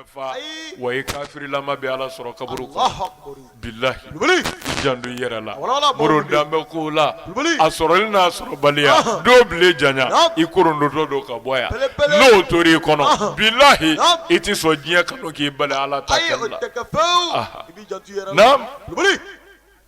fa wa i kafirilama bɛ ala sɔrɔ kaburu kɔnɔ bilahi janto i yɛrɛ la moro danbe ko la a sɔrɔli n'a sɔrɔbaliya do bile janya i kɔrɔtɔtɔ don ka bɔ yan n'o tor'i kɔnɔ bilahi i tɛ sɔn diɲɛ kanu k'i bali ala ta kɛli la naam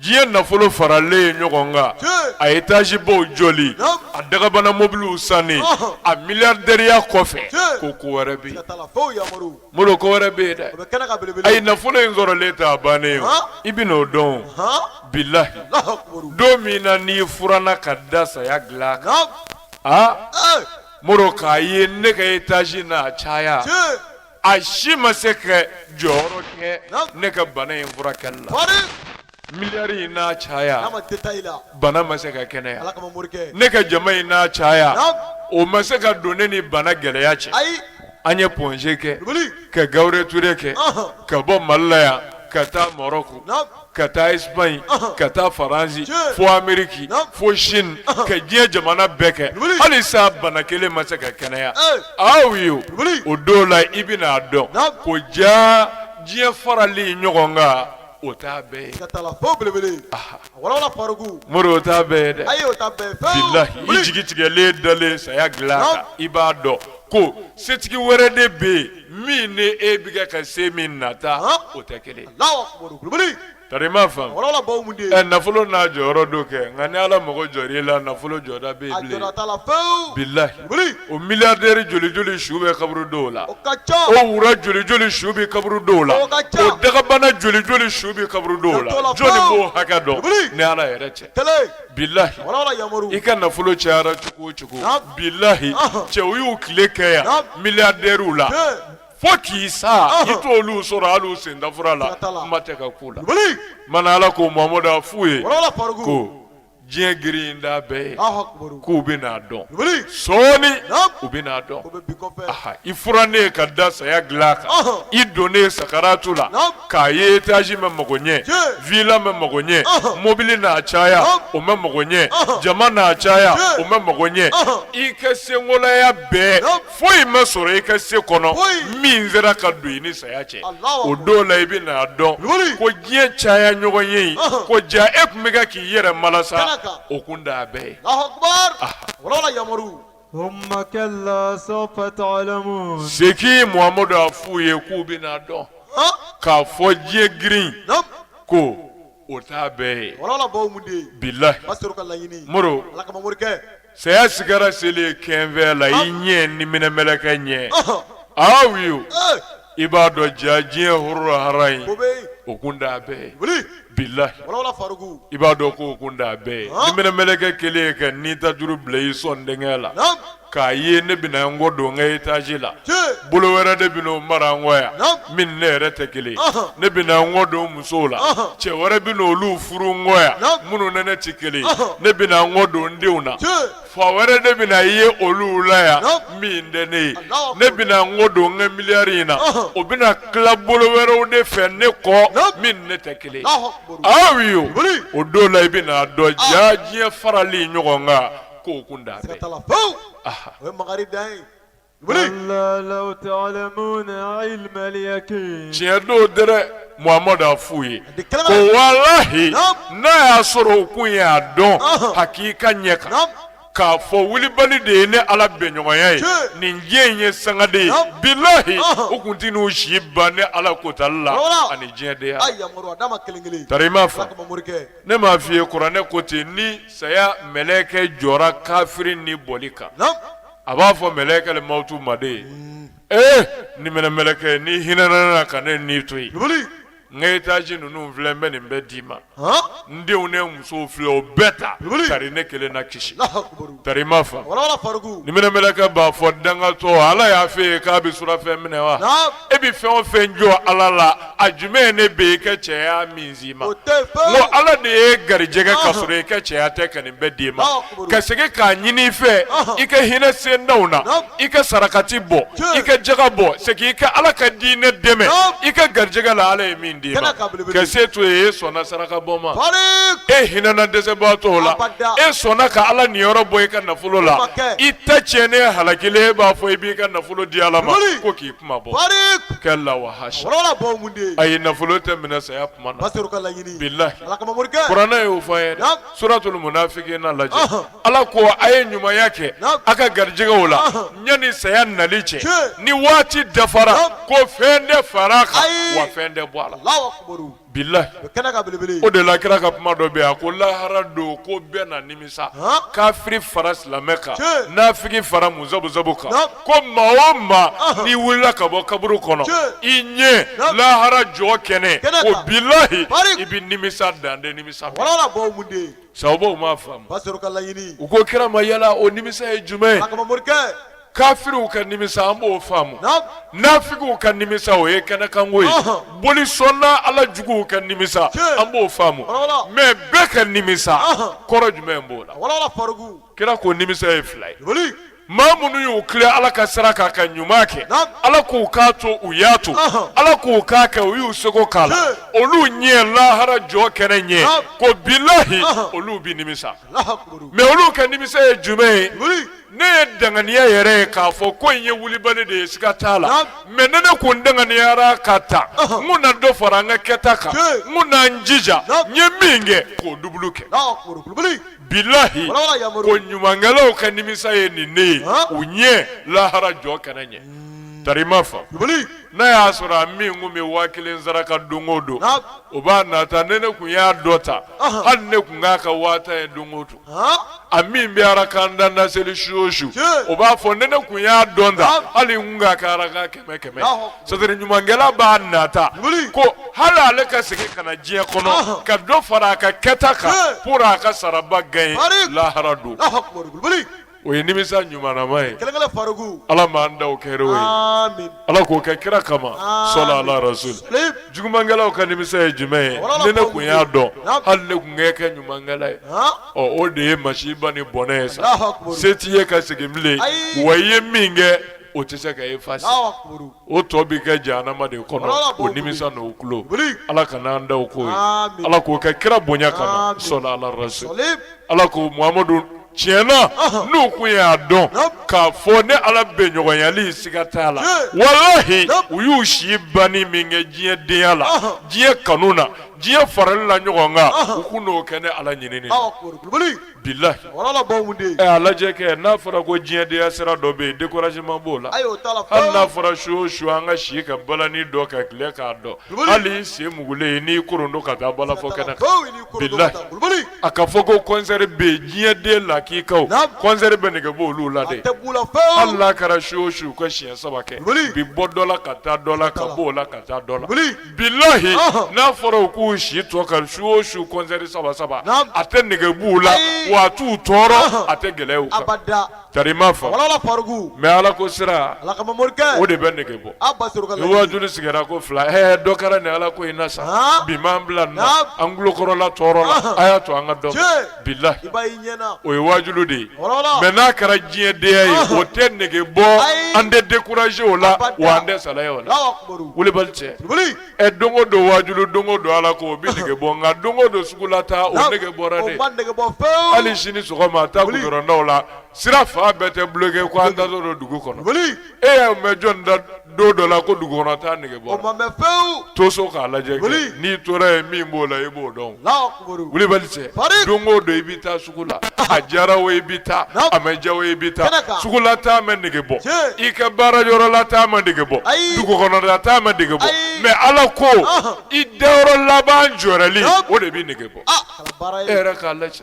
diɲɛ nafolo faralen ɲɔgɔn kan a etazibaw jɔli a dagabana mobiliw sanni a miliyaridɛriya kɔfɛ ko ko wɛrɛ bɛ yen moro ko wɛrɛ bɛ yen dɛ ayi nafolo in sɔrɔlen t'a bannen ye i bɛn'o dɔn bilayi don min na n'i furanna ka da saya dilan kan aa moro k'a ye ne ka etazi n'a caya a si ma se ka jɔyɔrɔ kɛ ne ka bana in furakɛ la miliyari n'a caya bana ma se ka kɛnɛ ne ka jama in n'a caya o ma se ka don ne ni bana gɛlɛya cɛ an ye Point G kɛ ka Gabriel Touré kɛ ka bɔ Mali la yan ka taa Maroc ka taa Espagne ka taa France fo Amérique fo Chine ka diɲɛ jamana bɛɛ kɛ hali sa bana kelen ma se ka kɛnɛya aw ye o don la i bɛna a dɔn ko jaa diɲɛ farali ɲɔgɔn kan o t'a bɛɛ ye ka taa la fo belebele walawala Faruku Moro o t'a bɛɛ ye dɛ ayi o t'a bɛɛ ye bilahi i jigi tigɛlen dalen saya dilan kan i b'a dɔn ko setigi wɛrɛ de bɛ yen min ni e bɛ kɛ ka se min nata o tɛ kelen fa nafolo n'a jɔyɔrɔ don kɛ nka ni ala mago jɔr'i la nafolo jɔda bɛ bilen bilahi o miliyaridɛri joli joli su bɛ kaburudo la o wura joli joli su bɛ kaburudo la o dagabana joli joli su bɛ kaburudo la jɔn b'o hakɛ dɔn ni ala yɛrɛ tɛ bilahi i ka nafolo cayara cogo o cogo bilahi cɛw y'u tile kɛ yan miliyadɛriw la fo k'i sa i t'olu sɔrɔ hali sendafura la kuma tɛ ka ko la mana ala ko mamadu a f'u ye ko diɲɛ girin t'a bɛɛ ye k'u bɛn'a dɔn sɔɔni u bɛn'a dɔn i furannen ka da saya dilan kan i donnen sakaratu la k'a ye etazi ma mago ɲɛ vila ma mago ɲɛ mɔbili n'a caya o ma mago ɲɛ jama n'a caya o ma mago ɲɛ i ka senkolaya bɛɛ foyi ma sɔrɔ i ka se kɔnɔ min sera ka don i ni saya cɛ o don la i bɛn'a dɔn ko diɲɛ caya ɲɔgɔn ye ko jaa e tun bɛ kɛ k'i yɛrɛ malasa o kun t'a bɛɛ ye Thumma kalla sawfa ta'lamun. Segin Muhammadu a f'u ye k'u bɛn'a dɔn. K'a fɔ diɲɛ girin ko o t'a bɛɛ ye. Wala baw mun de ye. Bilahi. Masoro ka laɲini. Moro. Ala kama morikɛ. Saya sigara selen kɛnfɛ la i ɲɛ niminɛ mɛlɛkɛ ɲɛ. Aw ye o. I b'a dɔn ja diɲɛ horo hara ye o kun da bɛɛ bilahi i b'a dɔn ko o kun da bɛɛ niminɛ mɛlɛkɛ kelen ka ni ta juru bila i sɔn denkɛ la k'a ye ne bɛna n kɔ don n ka etazi la bolo wɛrɛ de bɛna o mara n kɔ yan min ne yɛrɛ tɛ kelen ne bɛna n kɔ don musow la cɛ wɛrɛ bɛna olu furu n kɔ yan minnu ni ne tɛ kelen ne bɛna n kɔ don n denw na Fa wɛrɛ de bɛna i ye olu la yan min tɛ ne ye ne bɛna n kɔ don n ka miliyari in na o bɛna tila bolo wɛrɛw de fɛ ne kɔ min ne tɛ kelen aw ye o don la i bɛn'a dɔn ja diɲɛ farali ɲɔgɔn kan k'o kun da Wuli! Kalla law ta'lamuna ilma al-yaqin. Tiɲɛ don dɛrɛ Muhamadu a f'u ye A di kɛnɛma. ko walahi Naam. n'a y'a sɔrɔ u kun y'a dɔn Ɔhɔn. hakika ɲɛ kan Naam. k'a fɔ wulibali de ye ne Ala bɛnɲɔgɔnya ye Tiɲɛ. nin diɲɛ in ye sangade ye Naam. bilahi Ɔhɔn. u kun tɛna u si ban ne Ala kotali la Wala. ani diɲɛdenya A yamaru a d'a ma kelen kelen. Tari i m'a fa. Ala kama morikɛ. ne m'a f'i ye kuranɛ ko ten ni saya mɛlɛkɛ jɔra kafiri ni bɔli kan Naam. a b'a fɔ mɛlɛkɛ li mawtu ma dɛ ee niminɛ mɛlɛkɛ n'i hinɛna n na ka ne ni to yen n ka etazi ninnu filɛ n bɛ nin bɛɛ d'i ma n denw ni musow filɛ o bɛɛ ta tari ne kelen na kisi tari ma fa niminɛ mɛlɛkɛ b'a fɔ dangatɔ ala y'a f'e ye k'a bɛ surɔfɛn minɛ wa e bɛ fɛn o fɛn jɔ ala la a jumɛn ne bɛ i ka cɛya min s'i ma ko ala de y'i garijɛgɛ ka sɔrɔ i ka cɛya tɛ ka nin bɛɛ d'i ma ka segin k'a ɲini i fɛ i ka hinɛ sendaw na i ka sarakati bɔ i ka jaka bɔ segin i ka ala ka diinɛ dɛmɛ i ka garijɛgɛ la ala ye min d'i ma ka se to ye e sɔnna saraka bɔ ma e hinɛna dɛsɛbaatɔw la e sɔnna ka ala niyɔrɔ bɔ i ka nafolo la i ta tiɲɛnen halakilen e b'a fɔ i b'i ka nafolo di ala ma ko k'i kunmabɔ kɛ a la wa ha ayi nafolo tɛ minɛ saya kuma na bilahi kuranɛ y'o fɔ an ye dɛ suratul munafiqina lajɛ ala ko a ye ɲumanya kɛ a ka garijɛgɛw la yanni saya nali cɛ ni waati dafara ko fɛn tɛ fara a kan wa fɛn tɛ bɔ a la Bilahi o de la kira ka kuma dɔ bɛ yen a ko lahara don ko bɛɛ na nimisa kafiri fara silamɛ kan nafigi fara muzabuzabu kan ko maa o maa n'i wulila ka bɔ kaburu kɔnɔ i ɲɛ lahara jɔ kɛnɛ o bilahi i bɛ nimisa dan tɛ nimisa sahabaw m'a faamu u ko kira ma yala o nimisa ye jumɛn ye kafiriw ka nimisa an b'o faamu nafigiw ka nimisa o ye kɛnɛkanko ye boli sɔnna ala juguw ka nimisa an b'o faamu mɛ bɛɛ ka nimisa kɔrɔ jumɛn b'o la kira ko nimisa ye fila ye maa minnu y'u tilen ala ka sira kan ka ɲuman kɛ ala k'u k'a to u y'a to ala k'u k'a kɛ u y'u seko k'a la olu ɲɛ lahara jɔ kɛnɛ ɲɛ ko bilahi olu bɛ nimisa mɛ olu ka nimisa ye jumɛn ye ne ye danganiya yɛrɛ ye k'a fɔ ko in ye wulibali de ye siga t'a la Naam. mɛ ni ne kun danganiyara ka ta Ɔhɔ. n kun na dɔ fara n ka kɛta kan Tiɲɛ. n kun na n jija Naam. n ye min kɛ k'o dubulu kɛ Allahu akbar. Wulibali. bilahi Wala wala yamaru. ko ɲumankɛlaw ka nimisa ye nin ne ye Ɔhɔ. u ɲɛ lahara jɔ kɛnɛ ɲɛ tari ma fa Wulibali. n'a y'a sɔrɔ a min kun bɛ waa kelen saraka don o don Naam. o b'a nata ni ne kun y'a dɔn tan Ɔhɔ. hali ne kun k'a ka waa tan ye don o don a min bɛ arakan tan ne seli su o su o b'a fɔ ni ne kun y'a dɔn tan hali n kun k'a ka arakan kɛmɛ kɛmɛ c'est-à-dire ɲumankɛla b'a nata ko hali ale ka segin ka na diɲɛ kɔnɔ ka dɔ fara a ka kɛta kan pour a ka saraba gagner lahara don O ye nimisa ɲumanama ye kɛlɛkɛ farikun ala m'an ta kɛ o ye ala k'o kɛ kira kama sɔla ala rasul jugumankɛlaw ka nimisa ye jumɛn ye ni ne kun y'a dɔn hali ne kun kɛ kɛ ɲumankɛla ye ɔ o de ye masiba ni bɔnɛ ye sa se t'i ye ka segin bilen wa i ye min kɛ o tɛ se ka effacer o tɔ bɛ kɛ jahanama de kɔnɔ o nimisa n'o tulo ala kana an ta k'o ye ala k'o kɛ kira bonya kama sɔla ala rasul ala muhamadu tiɲɛ na n'u kun y'a dɔn k'a fɔ ne ala bɛnɲɔgɔnyali siga t'a la walahi u y'u si banni min kɛ diɲɛ denya la diɲɛ kanu na diɲɛ farali la ɲɔgɔn kan u kun n'o kɛ ne ala ɲinini bilahi a lajɛ kɛ n'a fɔra ko diɲɛ denya sira dɔ bɛ yen découragement b'o la hali n'a fɔra su o su an ka si ka balani dɔn ka tile k'a dɔn hali i sen mugulen n'i koron don ka taa balafɔ kɛnɛ kan bilahi A ka fɔ ko kɔnsɛri bɛ yen diɲɛ den lakikaw kɔnsɛri bɛ nege bɔ olu la dɛ hali n'a kɛra su o su u ka siɲɛ saba kɛ bi bɔ dɔ la ka taa dɔ la ka bɔ o la ka taa dɔ la bilahi n'a fɔra u k'u si tɔ ka su o su kɔnsɛri saba saba a tɛ nege b'u la wa a t'u tɔɔrɔ a tɛ gɛlɛya Tari ma fa mɛ ala ko sira o de bɛ nege bɔ ni waajulu sigira ko fila dɔ kɛra ni ala ko in na sa bi m'an bila nin na an tulokɔrɔla tɔɔrɔla a y'a to an ka dɔn bilahi o ye waajulu de ye mɛ n'a kɛra diɲɛ denya ye o tɛ nege bɔ an tɛ décourager o la wa an tɛ salaya o la wulibali cɛ Ɛ don o don wajulu don o don ala ko o bɛ nege bɔ nka don o don sugu la taa o nege bɔra de hali sini sɔgɔma taa gudɔrɔndaw la sira fan bɛɛ tɛ bloqué ko an taatɔ don dugu kɔnɔ e y'a mɛn jɔn da don dɔ la ko dugu kɔnɔ taa nege bɔra to so k'a lajɛ kɛ n'i tora yen min b'o la i b'o dɔn kulubali cɛ don o don i bɛ taa sugu la a diyara o i bɛ taa a ma diya o i bɛ taa sugula taa ma nege bɔ i ka baara yɔrɔla taa ma nege bɔ dugukɔnɔla taa ma nege bɔ mais ala ko i da yɔrɔ laban jɔrɛli o de bɛ nege bɔ e yɛrɛ k'a lajɛ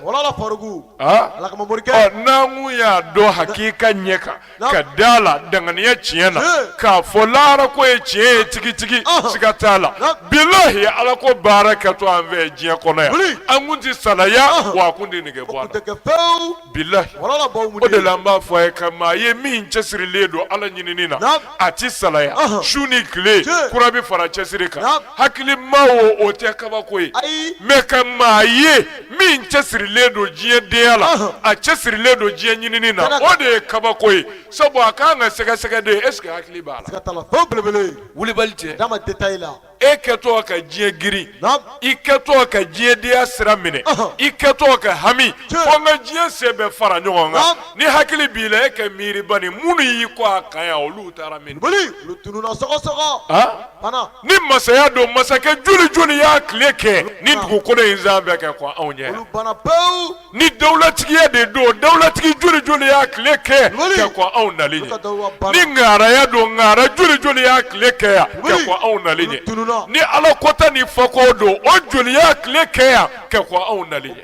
n'an kun y'a dɔn hakika ɲɛ kan ka da la danganiya tiɲɛ na k'a fɔ lahara ko ye tiɲɛ ye tigitigi siga t'a la bilahi ala ko baara kɛtɔ an fɛ diɲɛ kɔnɔ yan an kun tɛ salaya wa a kun tɛ nege bɔ an na bilahi o de la an b'a fɔ a ye ka maa ye min cɛsirilen don ala ɲinini na a tɛ salaya su ni tile kura bɛ fara cɛsiri kan hakilima o o tɛ kabako ye mais ka maa ye min cɛsirilen don diɲɛ denya la a cɛsirilen don diɲɛ ɲinini na o de ye kabako ye sabu a kan ka sɛgɛsɛgɛ de est-ce que hakili b'a la wulibali cɛ e kɛtɔ ka diɲɛ girin i kɛtɔ ka diɲɛ denya sira minɛ i kɛtɔ ka hami ko n ka diɲɛ sen bɛɛ fara ɲɔgɔn kan ni hakili b'i la e ka miiri bani minnu y'i kɔn a kan yan olu taara min Ni masaya don masakɛ joli joli y'a tile kɛ nin dugukolo in sanfɛ ka kɔn anw ɲɛ ni dawulatigiya de don dawulatigi joli joli y'a tile kɛ ka kɔn anw nali ɲɛ ni ŋaaraya don ŋaara joli joli y'a tile kɛ yan ka kɔn anw nali ɲɛ ni ala kota ni fako don o joli y'a tile kɛ yan ka kɔn anw nali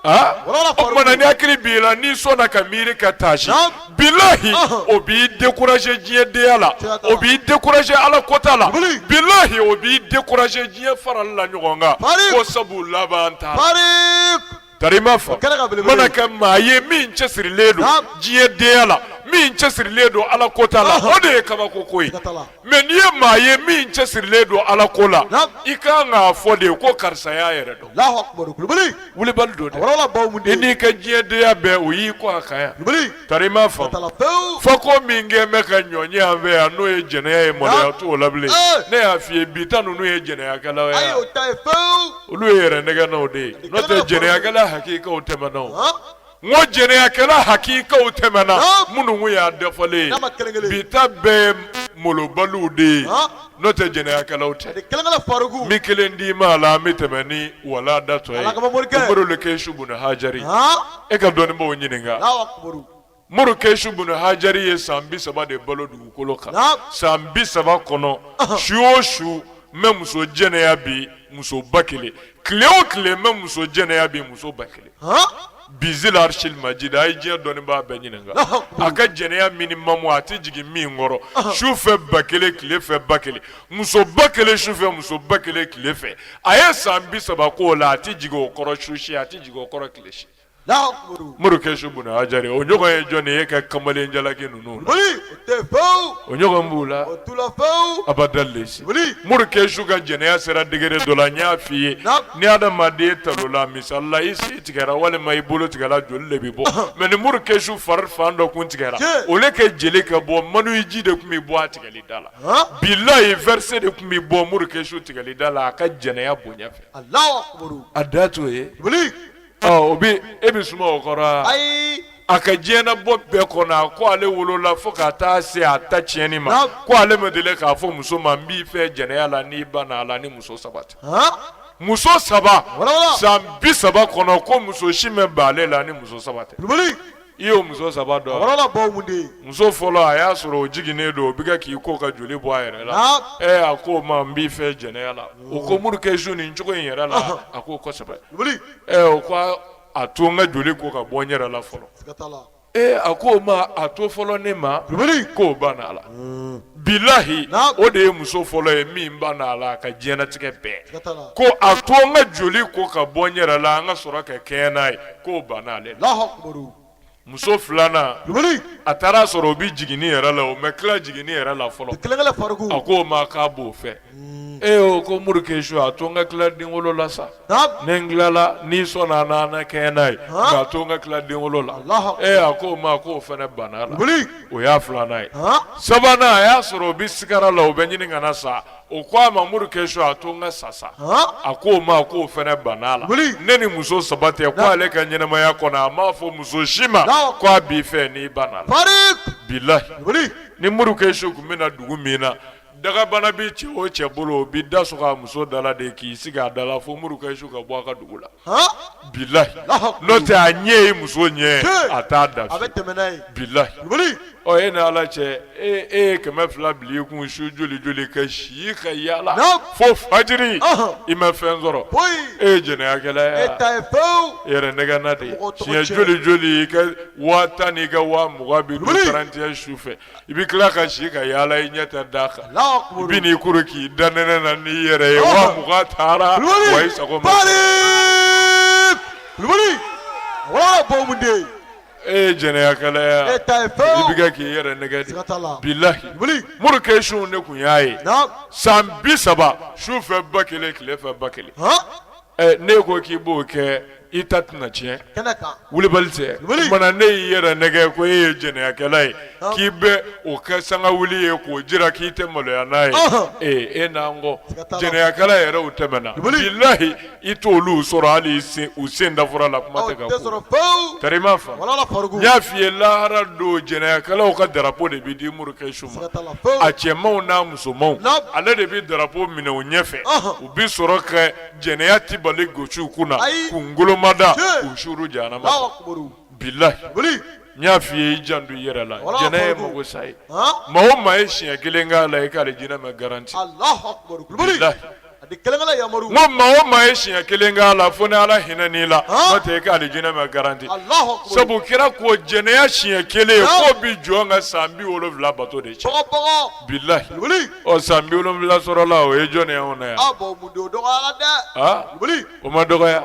o tuma na ni hakili b'i la n'i sɔnna ka miiri ka taasi bilahi o b'i décourager diɲɛ denya la o b'i décourager ala kota la bilahi o b'i décourager diɲɛ farali la ɲɔgɔn kan ko sabu laban t'a la tari ma fɔ mana ka maa ye min cɛsirilen don diɲɛ denya la min cɛsirilen don ala kota la o de ye kabako ko ye mais n'i ye maa ye min cɛsirilen don ala ko la i ka kan k'a fɔ de ko karisa y'a yɛrɛ dɔn wulibali don dɛ i n'i ka diɲɛdenya bɛɛ o y'i kɔn a kan yan tari ma fa fa ko min kɛ bɛ ka nɔgɔya an fɛ yan n'o ye jɛnɛya ye maloya t'o la bilen ne y'a f'i ye bi ta ninnu ye jɛnɛyakɛlaw ye olu ye yɛrɛ nɛgɛnnaw de ye n'o tɛ jɛnɛyakɛla hakikaw tɛmɛna N ko jɛnɛyakɛla hakikaw tɛmɛna minnu kun y'a dafalen ye bi ta bɛɛ malobaliw de ye n'o tɛ jɛnɛyakɛlaw tɛ n bɛ kelen d'i ma a la n bɛ tɛmɛ ni wala datɔ ye Muru Kesu Bunu Hajari e ka dɔnnibaw ɲininka Muru Kesu Bunu Hajari ye san bi saba de balo dugukolo kan san bi saba kɔnɔ su o su n bɛ muso jɛnɛya bi muso ba kelen tile o tile n bɛ muso jɛnɛya bi muso ba kelen bizil arshil majid a ye diɲɛ dɔnnibaa bɛɛ ɲininka a ka jɛnɛya minimum a tɛ jigin min kɔrɔ su fɛ ba kelen tile fɛ ba kelen muso ba kelen su fɛ muso ba kelen tile fɛ a ye san bi saba k'o la a tɛ jigin o kɔrɔ su si a tɛ jigin o kɔrɔ tile si Muru Kesu Bunu Hajari o ɲɔgɔn ye jɔn ye ka kamalen jalaki ninnu na o ɲɔgɔn b'u la abada si Muru Kesu ka jɛnɛya sera degré dɔ la n y'a fɔ i ye ni adamaden talonna misali la i sen tigɛra walima i bolo tigɛra joli de bɛ bɔ mais ni Muru Kesu fari fan dɔ kun tigɛra au lieu que jeli ka bɔ maniyu ji de tun bɛ bɔ a tigɛli da la bilahi versé de tun bɛ bɔ Muru Kesu tigɛli da la a ka jɛnɛya bonya fɛ a dan t'o ye O bɛ e bɛ suma o kɔrɔ a ka diɲɛnabɔ bɛɛ kɔnɔ ko ale wolola fo ka taa se a ta tiɲɛni ma ko ale ma deli k'a fɔ muso ma n b'i fɛ jɛnɛya la n'i banna a la ni muso saba tɛ muso saba san bi saba kɔnɔ ko muso si ma ban ale la ni muso saba i y'o muso saba dɔn? Muso fɔlɔ a y'a sɔrɔ o jiginnen don o bɛ kan k'i ko ka joli bɔ a yɛrɛ la ɛ a ko o ma n b'i fɛ jɛnɛya la o ko Muru Kesu nin cogo in yɛrɛ la a ko kosɛbɛ o ko a to n ka joli ko ka bɔ n yɛrɛ la fɔlɔ ee a ko o ma a to fɔlɔ ne ma k'o banna a la bilahi o de ye muso fɔlɔ ye min banna a la a ka diɲɛlatigɛ bɛɛ ko a to n ka joli ko ka bɔ n yɛrɛ la an ka sɔrɔ ka kɛɲɛ n'a ye k'o banna ale la muso filanan a taara a sɔrɔ o bɛ jiginni yɛrɛ la o ma tila jiginni yɛrɛ la fɔlɔ a k'o ma k'a b'o fɛ mm. e o ko Muru Kesu a to n ka tila denwolo la sa ni n tilala n'i sɔnna an n'an kɛɲɛ n'a ye nka a to n ka tila denwolo la e a ko o ma ko o fana banna a la o y'a filanan ye sabanan a y'a sɔrɔ o bɛ sigara la o bɛ ɲini ka na sa o ko a ma Muru Kesu a to n ka sa sa a ko o ma ko o fana banna la ne ni muso saba tɛ ko ale ka ɲɛnɛmaya kɔnɔ a m'a fɔ muso si ma ko a b'i fɛ n'i banna a la bilahi ni Muru Kesu tun bɛ na dugu min na Dagabana bɛ cɛ o cɛ bolo bi da sɔgɔ a muso da la de k'i sigi a da la fo muru ka su ka bɔ a ka dugu la bilahi n'o tɛ a ɲɛ ye muso ɲɛ a t'a da bilahi e ni ala cɛ e e ye kɛmɛ fila bil'i kun su joli joli ka si ka yaala fo fajiri i ma fɛn sɔrɔ e ye jɛnɛyakɛla ye yɛrɛ nɛgɛ de siɲɛ joli joli i ka waa tan n'i ka waa mugan bi tiɲɛ su fɛ I bɛ tila ka si ka yaala i ɲɛ tɛ da kan i bi n'i kuru k'i da nɛnɛ na n'i yɛrɛ ye wa taara i sago e ye jɛnɛyakɛla ye i bɛ k'i yɛrɛ nɛgɛ de bilahi mori ke su de tun y'a ye san bi saba su fɛ ba kelen tile fɛ ba kelen ne ko k'i b'o kɛ i ta tɛna tiɲɛ wulibali tɛ kuma na ne y'i yɛrɛ nɛgɛ ko e ye jɛnɛyakɛla ye k'i bɛ o kɛ sanga wuli ye k'o jira k'i tɛ maloya n'a ye ee e n'an kɔ jɛnɛyakɛla yɛrɛw tɛmɛna bilahi i t'olu sɔrɔ hali u sen dafura la kuma tɛ ka kari n y'a f'i ye lahara don jɛnɛyakɛlaw ka darapo de bɛ di muru kɛ su ma a cɛmanw n'a musomanw ale de bɛ darapo minɛ u ɲɛ fɛ bi sɔrɔ ka jɛnɛya tabali gosi u kunna k'u kungolo mada k'u suru jahanama bilahi n y'a fɔ i ye i janto i yɛrɛ la jɛnɛya ye mako sa ye maa o maa ye siɲɛ kelen k'a la i k'alijinɛ ma garanti maa o maa ye siɲɛ kelen k'a la fo ni ala hinɛn'i la n'o tɛ i k'alijinɛ ma garanti sabu kira ko jɛnɛya siɲɛ kelen k'o bɛ jɔn ka san bi wolonwula bato de cɛ Bilahi ɔ san bi wolonfila sɔrɔla o ye jɔn ye anw na yan o ma dɔgɔya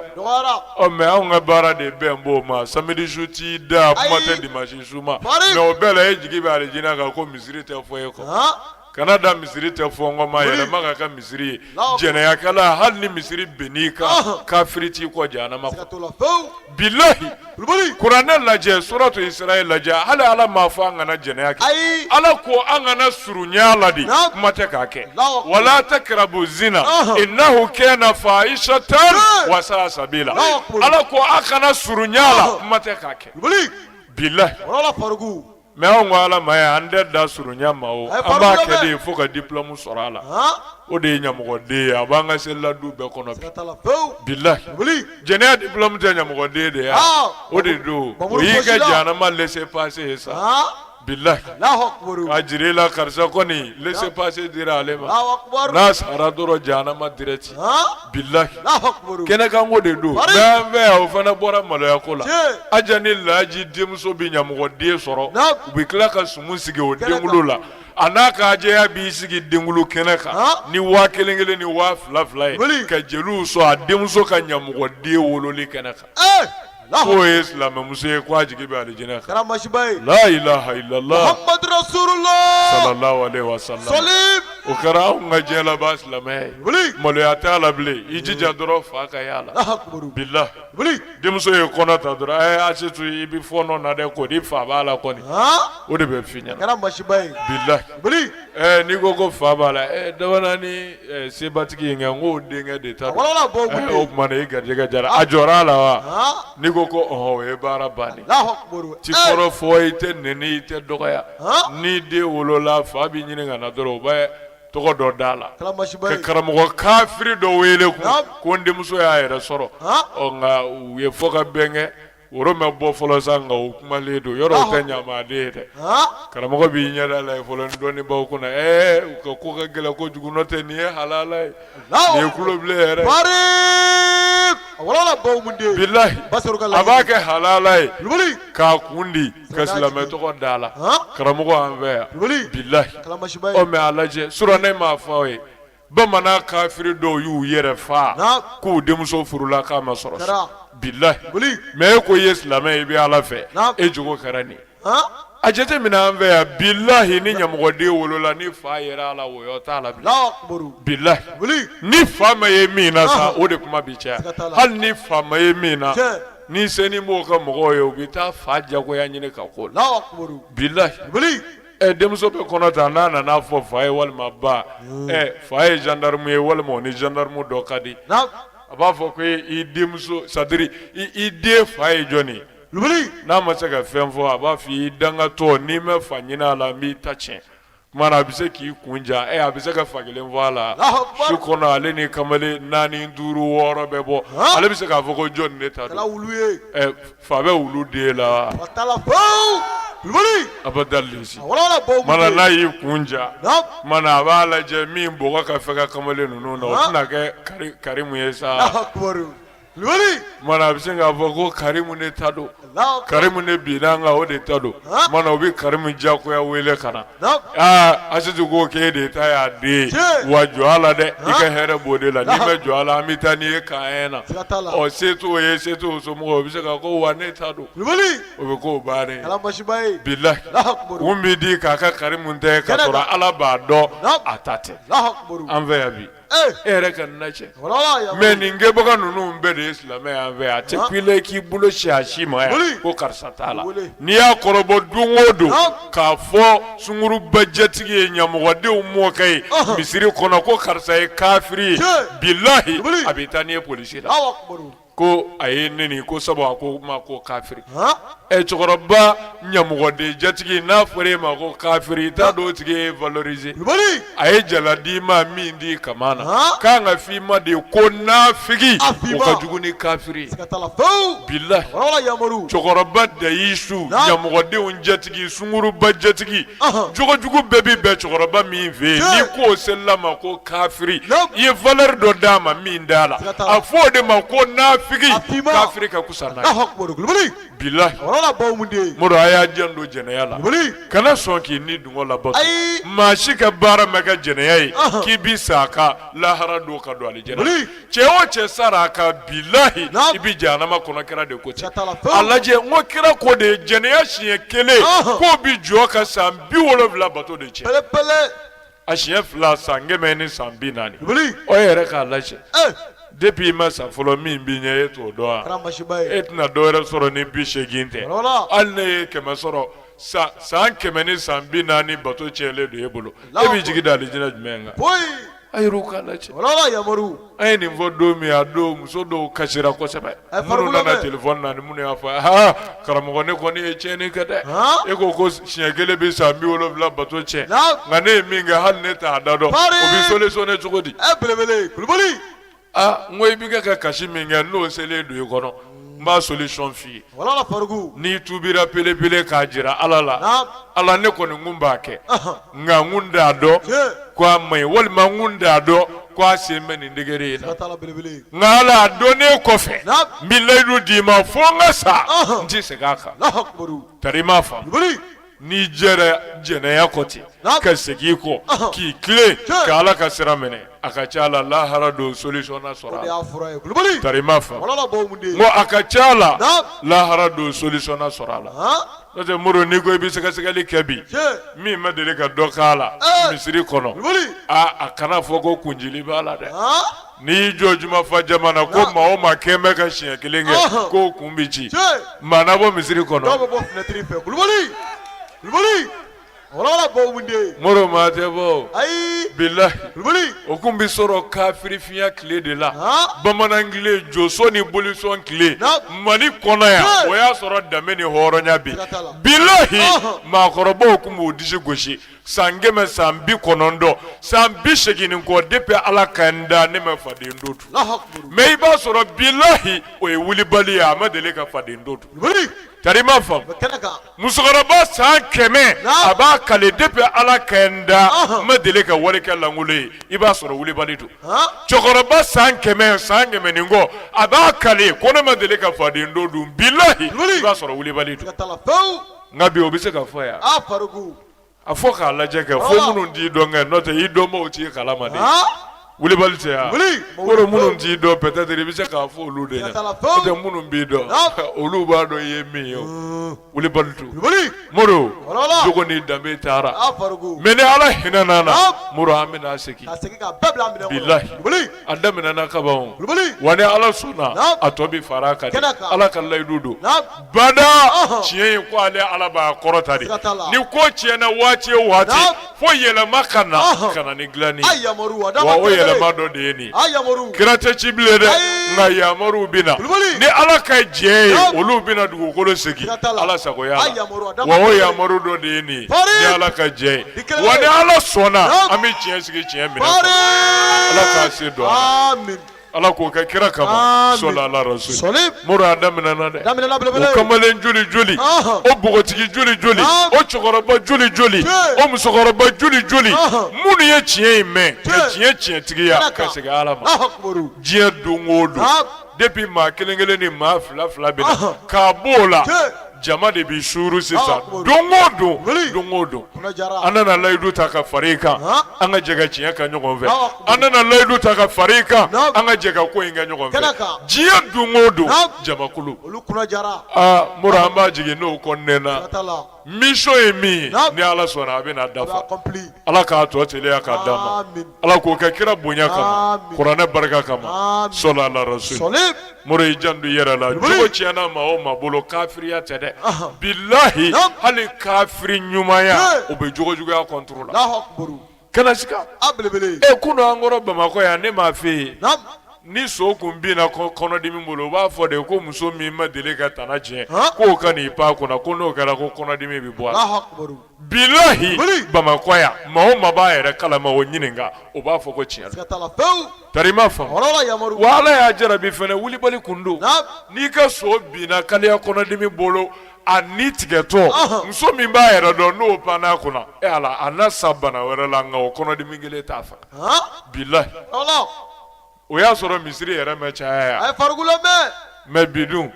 ɔ mɛ anw ka baara de bɛn bɔ o ma samedi su tɛ da kuma tɛ dimansi su ma mɛ o bɛɛ la e jigi bɛ alijinɛ kan ko misiri tɛ fɔ e kɔ kana dan misiri tɛ fɔ n kɔ ma yɛlɛma ka kɛ misiri ye jɛnɛyakɛla hali ni misiri binn'i kan Ɔnhɔn. kafiri t'i kɔ jahanama Siga kɔnɔ t'o la fewu. bilahi Kulubali. kuranɛ lajɛ suratu israɛl lajɛ hali ala m'a fɔ an kana jɛnɛya kɛ Ayi. ala ko an kana surunya la de Naam. kuma tɛ k'a kɛ Allahu akbar. wala takrabu zina Ɔnhɔn. innahu kana fahishatan Hey. wa sa'a sabila Allahu akbar. ala ko a kana surunya la Ɔnhɔn. kuma tɛ k'a kɛ Kulubali. bilahi Wala farugu. Mɛ anw ko ala ma ayi an tɛ dan surunya ma o an b'a kɛ de fo ka dipilɔmu sɔrɔ a la o de ye ɲamɔgɔden ye a b'an ka seli la du bɛɛ kɔnɔ bilahi jɛnɛya dipilɔmu tɛ ɲamɔgɔden de ye o de don o y'i ka jahanama lese pase ye sa bilahi a jira la karisa kɔni lese pase dira ale ma n'a sara dɔrɔn jahanama dirɛkiti bilahi kɛnɛkanko de don an fɛ yan o fana bɔra maloya ko la aja ni laji denmuso bɛ ɲamɔgɔ den sɔrɔ u bɛ tila ka sumu sigi o denkunli la a n'a ka ajɛya b'i sigi denkunli kɛnɛ kan ni waa kelen kelen ni waa fila fila ye ka jeliw sɔn a denmuso ka ɲamɔgɔ den wololi kɛnɛ kan K'o ye silamɛmuso ye k'a jigi bɛ alijinɛ kan, a kɛra masiba ye, laa ilaaha ilalaah, Mahamadu rasululaah, salala alehi wa salama, sɔli, o kɛra anw ka diɲɛ laban silamɛ ye, wuli, maloya t'a la bilen, i jija dɔrɔn fa ka y'a la, alahu akbar, bilahi, wuli, denmuso ye kɔnɔ ta dɔrɔn, ɛɛ Asitu i bɛ fɔɔnɔ na dɛ, kɔri fa b'a la kɔni, han, o de bɛ f'i ɲɛna, a kɛra masiba ye, bilahi, wuli Ɛɛ n'i ko ko fa b'a la dɔgɔ ni sebatigi in n ko denkɛ de ta o tuma na i garijɛgɛ jara a jɔra a la wa n'i ko ko o ye baara ban i tɛ kɔrɔfɔ i tɛ nɛni i tɛ dɔgɔya ni den wolola fa b'i ɲini ka na dɔrɔn u bɛ tɔgɔ dɔ d'a la ka karamɔgɔ kafiri dɔ wele ko n denmuso y'a yɛrɛ sɔrɔ nka u ye fɔ ka bɛn kɛ Woro ma bɔ fɔlɔ sa nka o kumalen don yɔrɔ o tɛ ɲamaden ye dɛ karamɔgɔ b'i ɲɛda lajɛ fɔlɔ ni dɔɔnin b'aw kun na ɛɛ u ka ko ka gɛlɛn kojugu n'o tɛ nin ye halala ye nin kulobilen yɛrɛ bilahi a b'a kɛ halala ye k'a kun di ka silamɛ tɔgɔ da a la karamɔgɔ an fɛ yan bilahi ɔ mɛ a lajɛ surɔ ne m'a fɔ aw ye bamanan kafiri dɔw y'u yɛrɛ fa k'u denmuso furula k'a ma sɔrɔ bilahi mɛ e ko i ye silamɛ ye i bɛ ala fɛ e jogo kɛra nin a jate minɛ an fɛ yan bilahi ni ɲamɔgɔden wolola ni fa yera a la wɔyɔ t'a la bilahi ni fa ma ye min na sa o de kuma bi caya hali ni fa ma ye min na ni senin b'o ka mɔgɔw ye u bɛ taa fa jagoya ɲini k'a k'o la bilahi ɛ denmuso bɛ kɔnɔ ta n'a nana fɔ fa ye walima ba ɛ fa ye gendarme ye walima o ni gendarme dɔ ka di naamu a b'a fɔ ko i denmuso c'est à dire i den fa ye jɔni ye Kulubali n'a ma se ka fɛn fɔ a b'a fɔ i dangatɔ n'i ma fa ɲini a la n b'i ta tiɲɛ tuma na a bɛ se k'i kun ja ɛ a bɛ se ka fa kelen fɔ a la Alahu akibaru. su kɔnɔ ale ni kamalen naani duuru wɔɔrɔ bɛ bɔ Naamu. ale bɛ se k'a fɔ ko jɔni ne ta don kɛra wulu ye ɛ Fa bɛ wulu den la a bɛ da n'a y'i kun ja a b'a lajɛ min bɔgɔ ka fɛgɛn kamalen ninnu na o na kɛ Karimu ye sa a bɛ se k'a fɔ ko Karimu ne ta don Karimu ne binna n kan o de ta don u bɛ Karimu diyagoya wele ka na Asitu ko k'e de ta y'a den wa jɔ a la dɛ i ka hɛrɛ b'o de la n'i ma jɔ a la an bɛ taa n'i ye camp un na ɔ se t'o ye se t'o somɔgɔw o bɛ se ka ko wa ne ta don o bɛ ko baara bilahi kun bɛ di k'a kɛ Karimu ta ye ka sɔrɔ ala b'a dɔn a ta tɛ an fɛ yan bi e ka na cɛ mais nin kɛbaga ninnu bɛɛ de ye silamɛ y'an fɛ yan a tɛ kule k'i bolo sin a si ma yan ko karisa t'a la n'i y'a kɔrɔbɔ don o don k'a fɔ sunguruba jatigi ye ɲamɔgɔdenw mɔkɛ ye misiri kɔnɔ ko karisa ye kafiri ye bilahi a bɛ taa n'i ye polisi la ko a ye ne neni ko sabu a ko ma ko kafiri ɛ cɛkɔrɔba ɲamɔgɔden jatigi n'a fɔra e ma ko kafiri t'a dɔn o tigi y'i valoriser a ye jala d'i ma min di ka na k'an ka fɔ i ma de ye ko nafigi o ka jugu ni kafiri bilahi cɛkɔrɔba dayusu ɲamɔgɔdenw jatigi jatigi sunguruba jatigi Ɔhɔn. jogojugu bɛɛ bɛ bɛn cɛkɔrɔba min fɛ yen Tiɲɛ. n'i k'o selila ma ko kafiri Naamu. i ye valeur dɔ d'a ma min t'a la Siga t'a la. a fɔ o de ma ko nafigi A finman. kafiri ka kusa n'a ye Alahu akubaru kulubali bilahi wala la baw mun de ye Modibo a y'a janto jɛnɛya la kulubali kana sɔn k'i ni dungɔ labato Ayi. maa si ka baara ma kɛ jɛnɛya ye Ɔhɔn. k'i bi sa a ka lahara don ka don alijɛnɛ Wuli. cɛ o cɛ sara a kan bilahi i bɛ jahanama kɔnɔ kira de ko ten a lajɛ n ko kira ko de jɛnɛya siɲɛ kelen k'o bi jɔ ka san bi wolonwula bato de cɛ a siɲɛ fila san kɛmɛ ni san bi naani o yɛrɛ k'a lajɛ depuis i ma sa fɔlɔ min b'i ɲɛ e t'o dɔn wa e tɛna dɔ wɛrɛ sɔrɔ ni bi seegin tɛ hali n'e ye kɛmɛ sɔrɔ san kɛmɛ ni san bi naani bato cɛlen don e bolo e b'i jigi da alijinɛ jumɛn kan A yɛrɛw k'a lajɛ wala yamaru an ye nin fɔ don min a don muso dɔw kasira kosɛbɛ minnu nana téléphone na ni minnu y'a fɔ aa karamɔgɔ ne kɔni ye tiɲɛni kɛ dɛ e ko ko siɲɛ kelen bɛ san bi wolonwula bato cɛ nka ne ye min kɛ hali ne t'a da dɔn o bɛ solutionner cogo di a ye belebele kulubali Aa n ko i bɛ kɛ ka kasi min kɛ n'o selen don i kɔnɔ n b'a solution f'i ye, walahi Fariku, n'i tuubira pelepele k'a jira Ala la, naamu, Ala ne kɔni n tun b'a kɛ, ɔhɔ, nka n tun t'a dɔn, tiɲɛ, ko a man ɲi walima n tun t'a dɔn ko a sen bɛ nin degré in na, siga t'a la belebele, nka Ala a donnen kɔfɛ, naamu, n bɛ layidu d'i ma fo n ka sa, ɔnhɔn, n tɛ segin a kan, Alahu akibaru, tari i m'a faamu. n'i jɛra jɛnɛya kɔ ten ka segin i kɔ k'i tilen ka ala ka sira minɛ a ka ca la lahara don solution na sɔrɔ a la i m'a faamu n ko a ka ca la lahara don solution na sɔrɔ a la n'o tɛ Modibo n'i ko i bɛ sɛgɛsɛgɛli kɛ bi min ma deli ka dɔ k'a la misiri kɔnɔ a kana fɔ ko kuncili b'a la dɛ N'i y'i jɔ juma fa jama na ko maa o maa kɛlen bɛ ka siɲɛ kelen kɛ k'o kun bɛ ci maa na bɔ misiri kɔnɔ Modibo maa tɛ bɔ bilayi o tun bɛ sɔrɔ kafirifinya tile de la bamanan tile josɔn ni bolisɔn tile mali kɔnɔ yan o y'a sɔrɔ danbe ni hɔrɔnya bi bilayi maakɔrɔbaw tun b'u disi gosi san kɛmɛ san bi kɔnɔntɔn san bi segin kɔ depuis ala ka n da ne ma faden to dun mais i b'a sɔrɔ bilayi o ye wulibali ye a ma deli ka faden to dun tari ma faamu musokɔrɔba san kɛmɛ a b'a kale depuis ala ka n da n ma deli ka walikɛ lankolon ye i b'a sɔrɔ wulibali don cɛkɔrɔba san kɛmɛ san kɛmɛ ni kɔ a b'a kale ko ne ma deli ka faden to dun bilayi i b'a sɔrɔ wulibali don nka bi o bɛ se ka fɔ yan a fɔ k'a lajɛ kɛ fo ah. minnu t'i dɔn kɛ n'o tɛ i dɔnbaaw t'i kalama de ah. wulibali tɛ yan kɔrɔ minnu t'i dɔn peut-être i bɛ se k'a fɔ olu de ɲɛna n'o tɛ minnu b'i dɔn ah. olu b'a dɔn i ye min ye wulibali tɛ Moro jogo ni danbe taara mais ni Ala hinɛna an na Moro an bɛna segin bilahi. a daminɛna kaban wa ni ala sɔnna a tɔ bɛ fara a kan ala ka layidu don bada tiɲɛ in ko ale ala b'a kɔrɔta de ni ko tiɲɛna waati o waati fo yɛlɛma ka na ka na ni dilanni wa o yɛlɛma dɔ de ye nin kira tɛ ci bilen dɛ nka yamaruw bɛ na ni ala ka jɛ ye olu bɛna dugukolo segin ala sagoya wa o yamaru dɔ de ye nin ni ala ka jɛ ye wa ni ala sɔnna an bɛ tiɲɛ sigi tiɲɛ minɛ ala k'a se dɔn ala k'o kɛ kira kama sɔla ala rasul mori a daminɛna dɛ o kamalen joli joli o bogotigi joli joli o cɛkɔrɔba joli joli o musokɔrɔba joli joli minnu ye tiɲɛ in mɛn ka tiɲɛ tiɲɛtigiya ka segin ala ma diɲɛ don o don depuis maa kelen kelen ni maa fila fila bɛ na k'a bɔ o la jama de bɛ suuru sisan don o don an nana layidu ta ka fara i kan an ka jɛ ka tiɲɛ kɛ ɲɔgɔn fɛ an nana layidu ta ka fara i kan an ka jɛ ka ko in kɛ ɲɔgɔn fɛ diɲɛ don o don jamakulu mori an b'a jigi n'o kɔnɔna mission ye min ye ni ala sɔnna a bɛna dafa ala k'a tɔ teliya k'a d'an ma ala k'o kɛ kira bonya kama kuranɛ barika kama sɔla ala rasul mori i janto i yɛrɛ la jogo tiɲɛna maa o maa bolo kafiriya tɛ dɛ bilahi hali kafiri ɲumanya o bɛ jogo juguya contre la kana sika e kunun an kɔrɔ bamakɔ yan ne m'a f'e ye ni so kun binna kɔnɔdimi bolo u b'a fɔ de ko muso min ma deli ka tana tiɲɛ k'o ka n'i pan kunna ko n'o kɛra ko kɔnɔdimi bɛ bɔ a la bilahi bamakɔ yan maa o maa b'a yɛrɛ kalama o ɲininka o b'a fɔ ko tiɲɛ Tari ma fa ala y'a jarabi fana wulibali kun don n'i ka so binna kaliya kɔnɔdimi bolo a ni tigɛtɔ muso min b'a yɛrɛ dɔn n'o panna kunna e ala a na sa bana wɛrɛ la nka o kɔnɔdimi kelen t'a faga bilahi o y'a sɔrɔ misiri yɛrɛ mɛ caya yan mɛ bi dun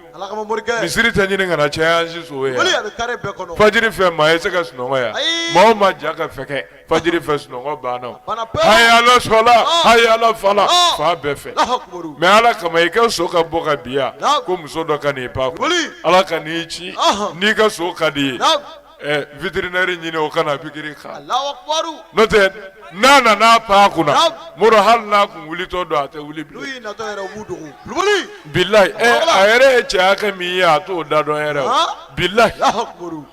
misiri tɛ ɲini ka na caya an si so ye fajiri fɛ maa ye se ka sunɔgɔ yan maa o maa ja ka fɛ fajiri fɛ sunɔgɔ banna haya ala sɔla haya ala fala fan bɛɛ fɛ mɛ ala kama i ka so ka bɔ ka bi yan ko muso dɔ ka n'i pan ala ka n'i ci n'i ka so ka di ye vétérinaire ɲini o ka na pikiri kan n'o tɛ n'a nana pan kunna mori hali n'a kun wulitɔ don a tɛ wuli bilayi ɛ eh, a yɛrɛ ye cɛ hakɛ min ye a t'o da dɔn yɛrɛ o bilayi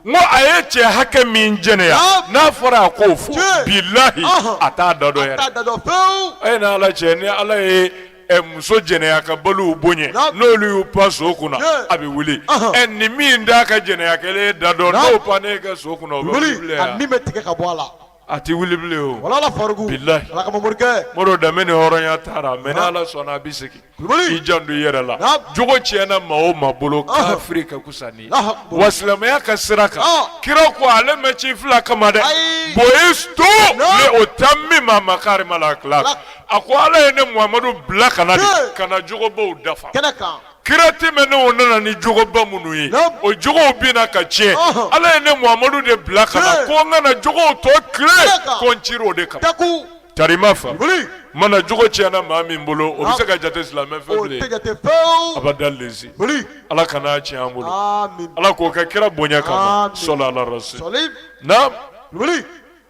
n ko a ye cɛ hakɛ min jɛnɛya n'a fɔra a k'o fɔ bilayi a t'a da dɔn yɛrɛ a ye n'ala cɛ ni ala ye eh, muso jɛnɛyakɛbaliw bonya n'olu y'u pan so kunna a bɛ wuli ɛ eh, nin min t'a ka jɛnɛya kɛlen da dɔn n'o pan ne ka so kunna o bɛ wuli a min bɛ tigɛ ka bɔ a la. a tɛ wuli bilen o bilahi moro danbe ni hɔrɔnya taara mɛ ni ala sɔnna a bɛ segin i janto i yɛrɛ la jogo tiɲɛna maa o maa bolo kafiri ka kusa n'i ye wa silamɛya ka sira kan kira ko ale mɛ ci fila kama dɛ buyistu li utammima makarima al-akhlaq a ko ala ye ne muhamadu bila ka na de ka na jogobaw dafa kira tɛmɛnenw nana ni jogoba minnu ye o jogow binna ka tiɲɛ ala ye ne muhamadu de bila ka na ko n ka na jogow tɔ tilen ko n cira o de kama tari ma fa mana jogo tiɲɛna maa min bolo o bɛ se ka jate silamɛ fɛ bilen abada lezi ala kan'a tiɲɛ an bolo ala k'o kɛ kira bonya kama sɔli ala rasul naam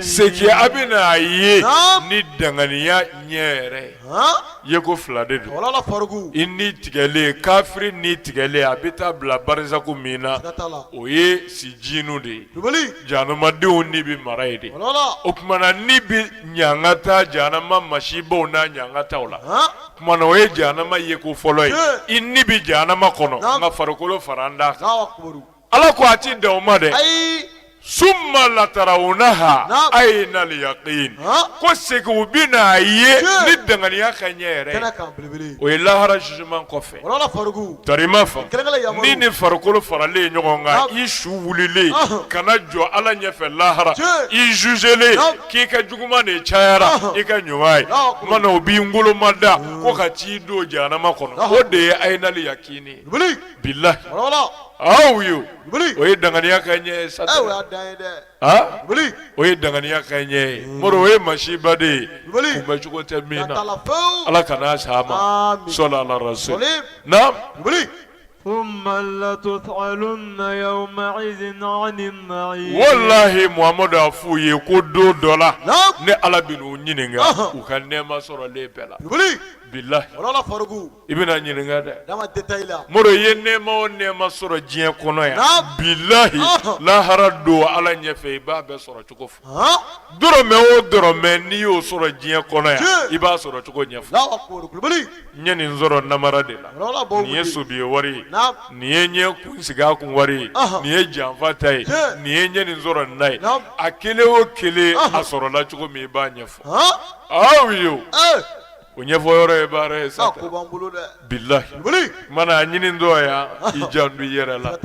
Segin a bɛ na a ye ni danganiya ɲɛ yɛrɛ yeko fila de don i ni tigɛlen kafiri ni tigɛlen a bɛ taa bila barizaku min na o ye sijinu de ye jahanamadenw ni bɛ mara yen de o tuma na ni bɛ ɲangata jahanama masibaw n'a ɲangataw la tuma o ye jahanama yeko fɔlɔ ye i ni bɛ jahanama kɔnɔ nka farikolo faralen t'a Ala ko a ti dan o ma dɛ, ayi, summa latarawunaha ayina liyaqin ko segin u bɛ n'a ye ni danganiya ka ɲɛ yɛrɛ ye, o ye lahara jugement kɔfɛ, tari i m'a faamu, ni ni farikolo faralen ɲɔgɔn kan i su wulilen ka na jɔ Ala ɲɛfɛ lahara i jugelen k'i ka juguman de cayara i ka ɲuman ye, o tuma na u b'i ngolomada ko ka t'i don jahanama kɔnɔ o de ye ayinal yaqin ye bilayi aw ye o ye danganiya ka ɲɛ sa o ye danganiya ka ɲɛ moro o ye masiba de ye kunbɛn cogo tɛ min na ala ka n'a sa ma so so na walahi muhamadu y'a f' u ye ko don dɔ la ne ala bɛn'u ɲininka u ka nɛma sɔrɔlen bɛɛ la bilayi I bɛna ɲininka dɛ moro i ye nɛma o nɛma sɔrɔ diɲɛ kɔnɔ yan bilayi lahara don ala ɲɛfɛ i b'a bɛɛ sɔrɔ cogo fɔ dɔrɔmɛ o dɔrɔmɛ n'i y'o sɔrɔ diɲɛ kɔnɔ yan i b'a sɔrɔ cogo ɲɛfɔ n ye nin sɔrɔ namara de la nin ye sobi wari ye nin ye ɲɛ kun sigi kun wari ye nin ye janfa ta ye nin ye n ye nin sɔrɔ nin na ye a kelen o kelen a sɔrɔla cogo min i b'a ɲɛfɔ aw ye O ɲɛfɔ yɔrɔ ye baara ye sa ko b'an bolo dɛ bilayi mana ɲini dɔ yan i janto i yɛrɛ la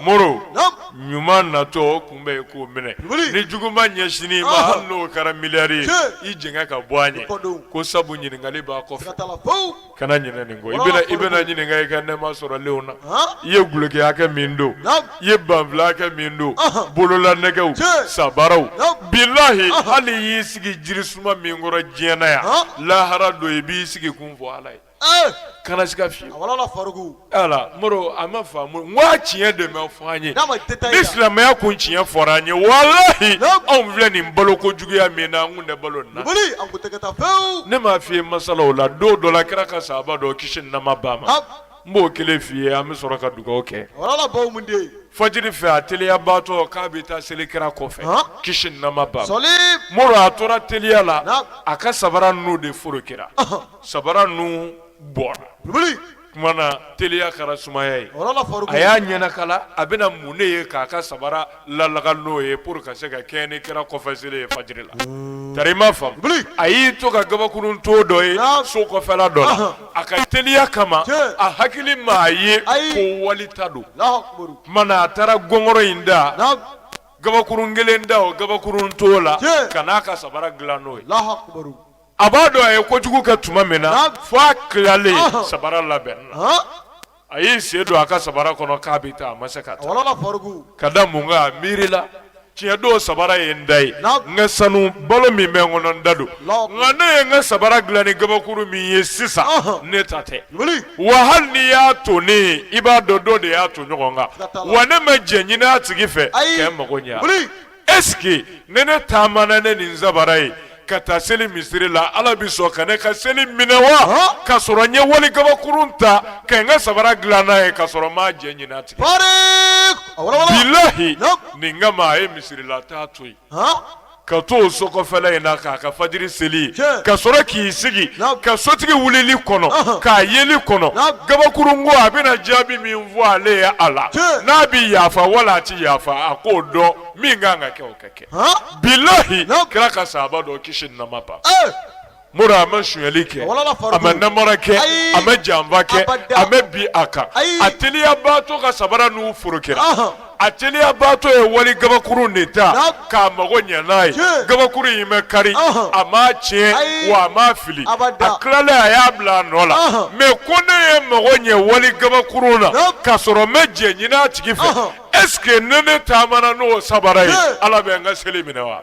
moro ɲuman natɔ o kunbɛn i k'o minɛ ni juguman ɲɛsinna i ma hali n'o kɛra miliyari i jigin ka bɔ an ye ko sabu ɲininkali b'a kɔfɛ kana ɲinɛ nin kɔ i bɛna ɲininka i ka nɛma sɔrɔlenw na i ye dulɔki hakɛ min don I ye banfula hakɛ min don bololanɛgɛw sabaraw bilayi hali i y'i sigi jiri suma min kɔrɔ diɲɛ na yan lahara don i b'i sigi kun fɔ ala ye kana sika fewu a ma tiɲɛ de bɛ fɔ an ye silamɛya kun tiɲɛ fɔra an ye walahi anw filɛ nin balo ko juguya min na an tun tɛ balo la ne m'a f'i ye masalaw la don dɔ la kira ka saba dɔ kisi ni nɛma b'a ma n b'o kelen f'i ye an bɛ sɔrɔ ka dugawu kɛ fajiri fɛ a teliyabaatɔ k'a bɛ taa seli kira kɔfɛ kisi ni nɛma b'a ma moro a tora teliya la a ka sabara ninnu de furu kira sabara ninnu bɔra na teliya kɛra sumaya ye a y'a ɲɛnakala a bɛna mun de ye k'a ka sabara laka n'o ye pour ka se ka kɛnɛ kira kɔfɛ seli ye fajiri la tari ma fa a y'i to ka kabakurun ton dɔ ye so kɔfɛla dɔ la a ka teliya kama a hakili m'a ye ko wali ta don tuma min na a taara gɔngɔrɔ in ta kabakurun kelen ta o kabakurun ton la ka na a ka sabara dilan n'o ye a b'a dɔn a ye kojugu kɛ tuma min na fo a tilalen sabara labɛn a y'i sen don a ka sabara kɔnɔ k'a bɛ taa a ma se ka taa ka da mun kan a miirila tiɲɛ don sabara ye n ta ye n ka sanu balo min bɛ n kɔnɔ n ta don nka ne ye n ka sabara dilan ni gabakuru min ye sisan ne ta tɛ wa hali n'i y'a tonnen ye i b'a dɔn dɔ de y'a ton ɲɔgɔn kan wa ne ma jɛn ɲini a tigi fɛ ka n mago ɲɛ Est-ce que ni ne taamana ni nin sabara ye ka taa seli misiri la ala bɛ sɔn ka ne ka seli minɛ wa ka sɔrɔ n ye wali kabakurun ta ka n ka sabara dila n'a ye ka sɔrɔ n ma jɛn ɲini a tigi fɛ bilahi nin kama a ye misiri la taa to yen ka to o so kɔfɛla in na k'a ka fajiri seli ka sɔrɔ k'i sigi ka sotigi wulili kɔnɔ k'a yeli kɔnɔ kabakurun ko a bɛna jaabi min fɔ ale ye a la n'a bɛ yafa wala a tɛ yafa a k'o dɔn min kan ka kɛ o ka kɛ bilahi kira ka sahaba dɔ kisi nama ban Moro a ma sonyali kɛ a ma namara kɛ a ma janfa kɛ a ma bin a kan a teliyabaatɔ ka sabara nun forokira a teliyabaatɔ ye wali gabakurun de ta k'a mago ɲɛ n'a ye gabakurun in ma kari a m'a tiɲɛ wa a m'a fili a tilalen a y'a bila a nɔ la mais ko ne ye n mago ɲɛ wali gabakurun na k'a sɔrɔ n ma jɛn ɲini a tigi fɛ est-ce que ni ne taamana n'o sabara ye ala bɛ n ka seli minɛ wa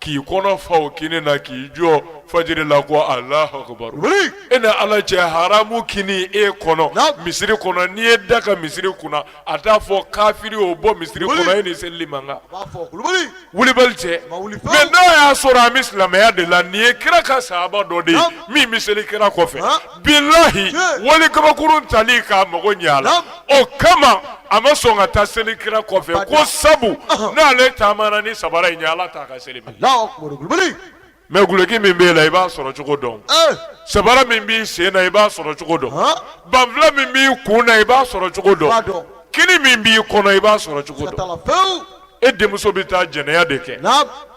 k'i kɔnɔ fa o kini na k'i jɔ fajiri la ko Alahu akibaru wuli e ni Ala cɛ haramu kini e kɔnɔ Naamu. misiri kɔnɔ n'i ye da ka misiri kunna a t'a fɔ kafiri o bɔ misiri Wuli. kɔnɔ e ni seli man kan a b'a fɔ kulubali wulibali cɛ Ma wuli pewu. mais n'a y'a sɔrɔ an bɛ silamɛya de la nin ye kira ka sahaba dɔ de ye Naamu. min bɛ seli kira kɔfɛ Naamu. bilahi wali kabakurun tali k'a mago ɲɛ a la o kama a ma sɔn ka taa seli kira kɔfɛ ko sabu n'ale taamana ni sabara in ye ala t'a ka seli minɛ mais guloki min b'e la i b'a sɔrɔ cogo dɔn eh. sabara min b'i sen na i b'a sɔrɔ cogo dɔn banfula min b'i kun na i b'a sɔrɔ cogo dɔn kini min b'i kɔnɔ i b'a sɔrɔ cogo dɔn e denmuso bɛ taa jɛnɛya de kɛ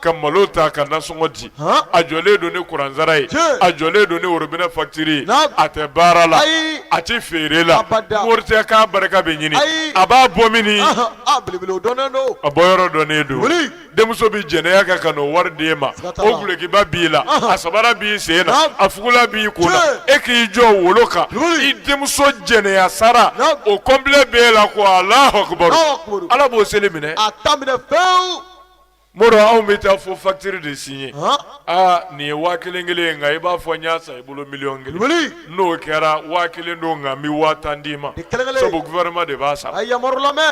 ka malo ta ka nasɔngɔ di a jɔlen don ni kuransara ye a jɔlen don ni worobinɛ facture ye a tɛ baara la a tɛ feere la Moro i tɛ k'a barika bɛ ɲini a b'a bɔ min a bɔyɔrɔ dɔnnen don denmuso bɛ jɛnɛya kɛ ka n'o wari d'e ma o gulokiba b'i la a sabara b'i sen na a fugula b'i kun na e k'i jɔ wolo kan i denmuso jɛnɛya sara o complet b'e la ko Alahu akibaru ala b'o seli minɛ a t'a minɛ fewu Moro anw bɛ taa fo facture de signer aa nin ye waa kelen kelen ye nka i b'a fɔ n y'a san i bolo miliyɔn kelen n'o kɛra waa kelen don nka n bɛ waa tan d'i ma sabu gouvernement de b'a sara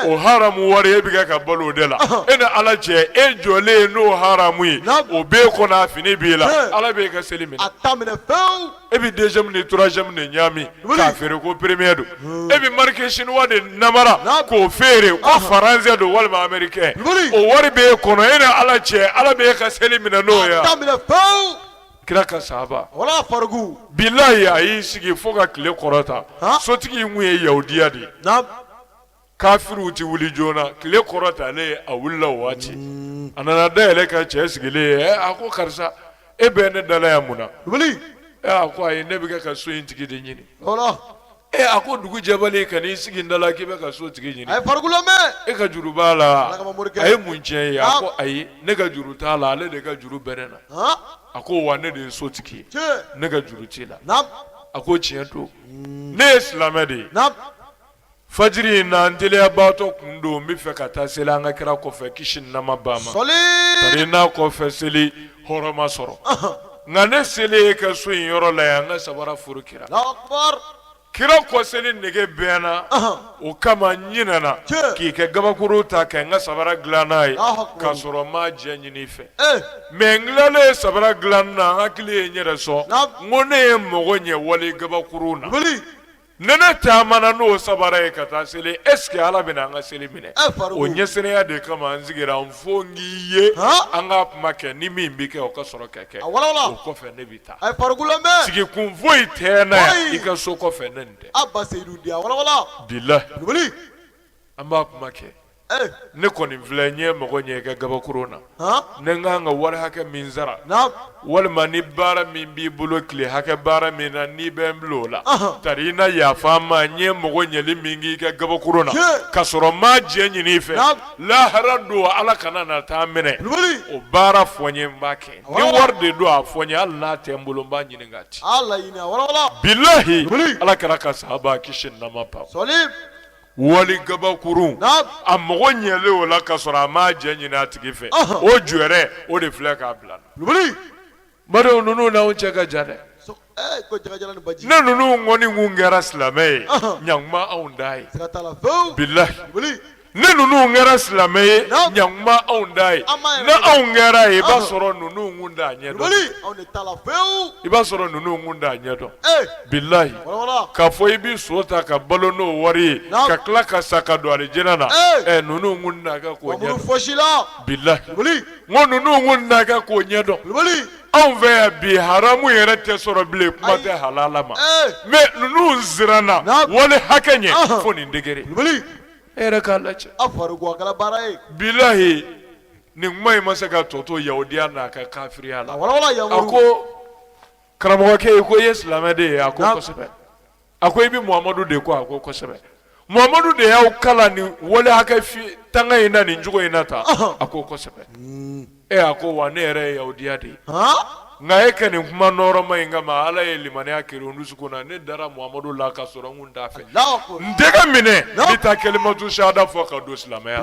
o haramu wari e bɛ kɛ ka balo o de la e ni Ala cɛ e jɔlen n'o haramu ye o b'e kɔnɔ a fini b'e la Ala b'e ka seli minɛ e bɛ deuxième ni troisième de ɲagami k'a feere ko premier don e bɛ marque chinois de namara k'o feere ko français don walima américain o wari b'e kɔnɔ e ni Ala cɛ Ala b'e ka seli minɛ n'o ye wa. kira ka sahaba bilahi a y'i sigi fo ka tile kɔrɔta Han. sotigi in kun ye yahudiya de ye kafiriw ti wuli joona tile kɔrɔtalen a wulila o waati a nana da yɛlɛ ka cɛ sigilen ye "Eh, a ko karisa e bɛ ne dala yan mun na Eh, a ko ayi ne bɛ kɛ ka so in tigi de ɲini Ee a ko dugu jɛbali ka n'i sigi n da la k'i bɛ ka so tigi ɲini e ka juru b'a la a ye mun k'i ye a ko ayi ne ka juru t'a la ale de ka juru bɛ n na a ko wa ne de ye so tigi ye ne ka juru t'i la a ko tiɲɛ don ne ye silamɛ de ye fajiri in na n teliyabaatɔ kun don n bɛ fɛ ka taa seli an ka kira kɔfɛ kisi ni nɛɛma b'a ma n'a kɔfɛ seli hɔrɔma sɔrɔ nka ne selen y'i ka so in yɔrɔ la yan n ka sabara furu kira kira kɔ seli nege bɛ n na o kama n ɲinɛna k'i ka gabakuru ta ka n ka sabara dilan n'a ye k'a sɔrɔ n m'a jɛ ɲini i fɛ mɛ n tilalen ye sabara dilan na n hakili ye n yɛrɛ sɔn n ko ne ye mago ɲɛ wali gabakuru na Ni ne taamana n'o sabara ye ka taa seli est-ce que ala bɛna an ka seli minɛ o ɲɛsiranya de kama n sigira yan fo n k'i ye an ka kuma kɛ ni min bɛ kɛ o ka sɔrɔ ka kɛ o kɔfɛ ne bɛ taa sigi kun foyi tɛ n na yan i ka so kɔfɛ ne tɛ an b'a kuma kɛ ne kɔni filɛ n ye mago ɲɛ i ka gabakuru na ni n kan ka wari hakɛ min sara walima ni baara min b'i bolo tile hakɛ baara min na n'i bɛ n bila o la tari i na yafa n ma n ye mago ɲɛli min k'i ka gabakuru na ka sɔrɔ n m'a jɛ ɲini i fɛ lahara don ala kana na taa minɛ o baara fɔ n ye n b'a kɛ ni wari de don a fɔ n ye hali n'a tɛ n bolo n b'a ɲini k'a ci bilahi ala kira ka sahaba kisi ni nɛɛma b'a wali gabakurun a mago ɲɛlen o la ka sɔrɔ a m'a jɛ ɲini a tigi fɛ o jɔrɛ o de filɛ k'a bila badenw ninnu n'anw cɛ ka jan dɛ ni ninnu kɔni kun kɛra silamɛ ye ɲakuma anw t'a ye bilahi ni ninnu kɛra silamɛ ye ɲakuma anw t'a ye ni anw kɛr'a ye i b'a sɔrɔ ninnu kun t'a ɲɛ dɔn i b'a sɔrɔ ninnu kun t'a ɲɛ dɔn bilahi k'a fɔ i bɛ so ta ka balo n'o wari ye ka tila ka sa ka don alijinɛ na ɛ ninnu kun t'a kɛ k'o ɲɛdɔn bilahi n ko ninnu kun t'a kɛ k'o ɲɛdɔn anw fɛ yan bi haramu yɛrɛ tɛ sɔrɔ bilen kuma tɛ halala ma mɛ ninnu siranna wali hakɛ ɲɛ fo nin degere e yɛrɛ k'a lajɛ bilahi nin kuma in ma se ka tɔ to yahudiya n'a ka kafiriya la a ko karamɔgɔkɛ ye ko i ye silamɛ de ye a ko kosɛbɛ a ko i bɛ muhamadu de kɔ a ko kosɛbɛ muhamadu de y'aw kalan nin wale hakɛ tanga in na nin cogo in na tan a ko kosɛbɛ hmm. e a ko wa ne yɛrɛ ye yahudiya de ye nka e ka nin kuma nɔɔrɔma in kama ala ye limaniya kiri n dusukun na ne dara muhamadu la ka sɔrɔ n kun t'a fɛ n tɛgɛ minɛ ne ta kalimatu sahada fɔ ka don silamɛya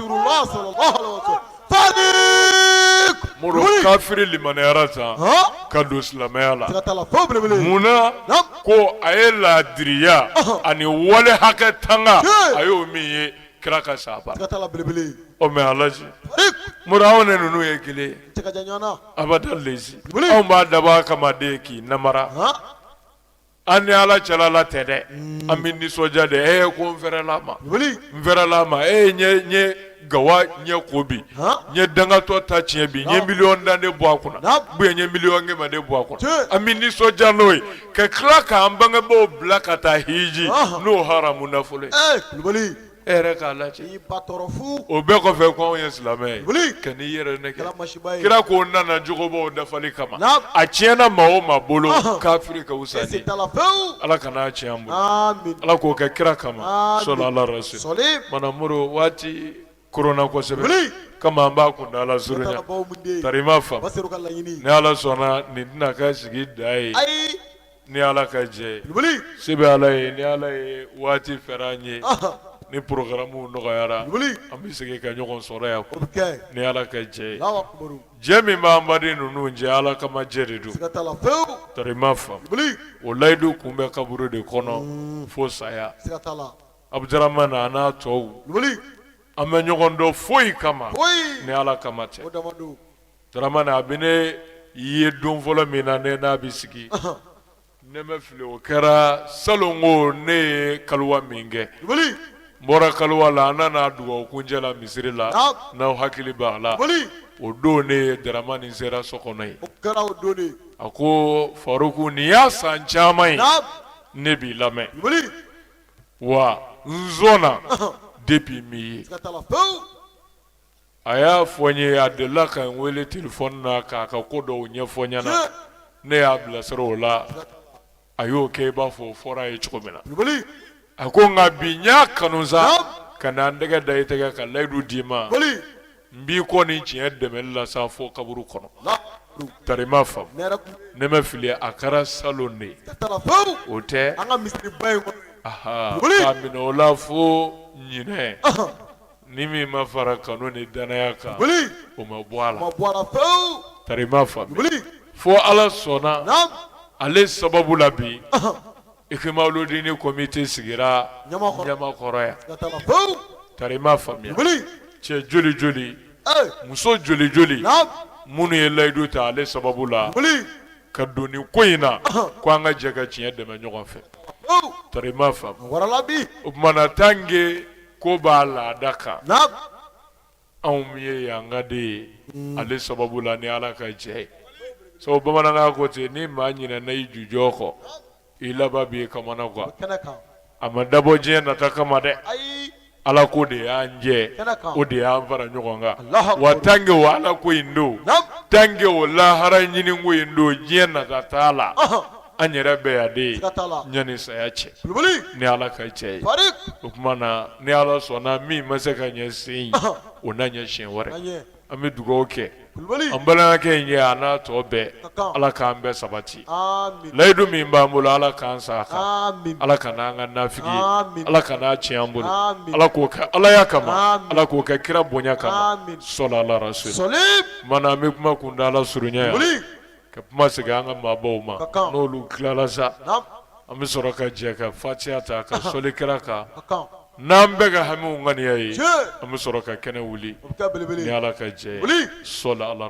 Rasulullah sallallahu alaihi wasallam sadiq muru kafiri limaniyara tan ka don silamɛya la munna ko a ye laadiriya ani wale hakɛ tanga a y'o min ye kira ka sahaba o mɛ alaji muru anw ni ninnu ye kelen ye abada lezi anw b'a dabɔ a kama de k'i namara An ni ala cɛla la tɛ dɛ an bɛ nisɔndiya de e ye ko n fɛrɛla ma n fɛrɛla ma e n ye gawa ɲɛ ko bi n ye dangatɔ ta tiɲɛ bi n ye miliyɔn tan de bɔ a kunna n ye miliyɔn kɛmɛ de bɔ a kunna an bɛ nisɔndiya n'o ye ka tila k'an bangebaw bila ka taa hiji n'o haramu nafolo E yɛrɛ k'a lajɛ i ba tɔɔrɔ fu o bɛɛ kɔfɛ ko anw ye silamɛ ye wuli kan'i yɛrɛ nɛgɛn kɛra masiba ye kira ko n nana jogobaw dafali kama a tiɲɛna maa o maa bolo kafiri ka wusa n'i ye siga t'a la pewu ala kan'a tiɲɛ an bolo amin ala k'o kɛ kira kama amin sɔli ala rasuli sɔli mana moro waati koronna kosɛbɛ wuli kama an b'a kuntaala surunya t'a la bawo mun de tari i m'a faamu basiru ka laɲini ni ala sɔnna nin tɛna kɛ sigi dan ye ayi ni ala ka jɛ se bɛ ala ye ni ala ye waati fɛrɛ an ye ni porokaramu nɔgɔyara an bɛ segin ka ɲɔgɔn sɔrɔ yan ni ala ka jɛ jɛ min bɛ an baden ninnu cɛ ala kama jɛ de don tari ma faamu o layidu kun bɛ kaburu de kɔnɔ fo saya abuduramani a n'a tɔw an bɛ ɲɔgɔn dɔn foyi kama ni ala kama tɛ daramani a bɛ ne ye don fɔlɔ min na ne n'a bɛ sigi ne ma fili o kɛra salon ko ne ye kaliwa min kɛ n bɔra kaliwa la an nana dugawu kuncɛ la misiri la n'aw hakili b'a la o don ne ye daramani sera so kɔnɔ ye a ko faruku nin y'a san caman ye ne b'i lamɛn wa n sɔnna depuis min ye a y'a fɔ n ye a delila ka n wele telefɔni na k'a ka ko dɔw ɲɛfɔ n ɲɛna ne y'a bilasira o la a y'o kɛ i b'a fɔ o fɔra a ye cogo min na a ko nka bi n y'a kanu sa ka na n tɛgɛ da i tɛgɛ ka layidu d'i ma n b'i kɔ nin tiɲɛ dɛmɛli la sa fo kaburu kɔnɔ tari ma faamu ne ma fili a kɛra salon de ye o tɛ k'a minɛ o la fo ɲinɛ Ni min ma fara kanu ni danaya kan o ma bɔ a la tari ma faamu fo ala sɔnna ale sababu la bi ikimaludini komite sigira ɲamakɔrɔ yan tari faamuya cɛ joli joli muso joli joli minnu ye layidu ta ale sababu la ka don nin ko in na ko an ka jɛ ka tiɲɛ dɛmɛ ɲɔgɔn fɛ tari ma faamu o tuma na tange ko b'a laada kan anw min ye yanka den ye mm. ale sababu la ni ala ka jɛ ye sabu bamanankan ko ten ni maa ɲinɛna i jujɔn kɔ i laban b'i kamanagan a ma dabɔ diɲɛ nata kama dɛ ala ko de y'an jɛ o de y'an fara ɲɔgɔn kan wa tange o ala ko in don tange o lahara ɲini ko in don diɲɛ nata t'a la an yɛrɛ bɛ yan de ɲani saya cɛ ni ala ka jɛ ye o tuma na ni ala sɔnna min ma se ka ɲɛ sen o na ɲɛ siɲɛ wɛrɛ an bɛ dugawu kɛ an balimakɛ in ye a n'a tɔ bɛɛ ala k'an bɛɛ sabati layidu min b'an bolo ala k'an sa a kan ala kan'an kɛ nafigi ala kan'a tiɲɛ an bolo ala k'o kɛ alaya kama ala k'o kɛ kira bonya kama soli ala rasul tuma na an bɛ kuma kuntaala surunya ka kuma segin an ka maabaw ma n'olu tilala sa an bɛ sɔrɔ ka jɛ ka fatiya ta ka soli kira kan n'an bɛɛ ka hamiw ŋaniya ye an bɛ sɔrɔ ka kɛnɛ wuli ala ka jɛ soli ala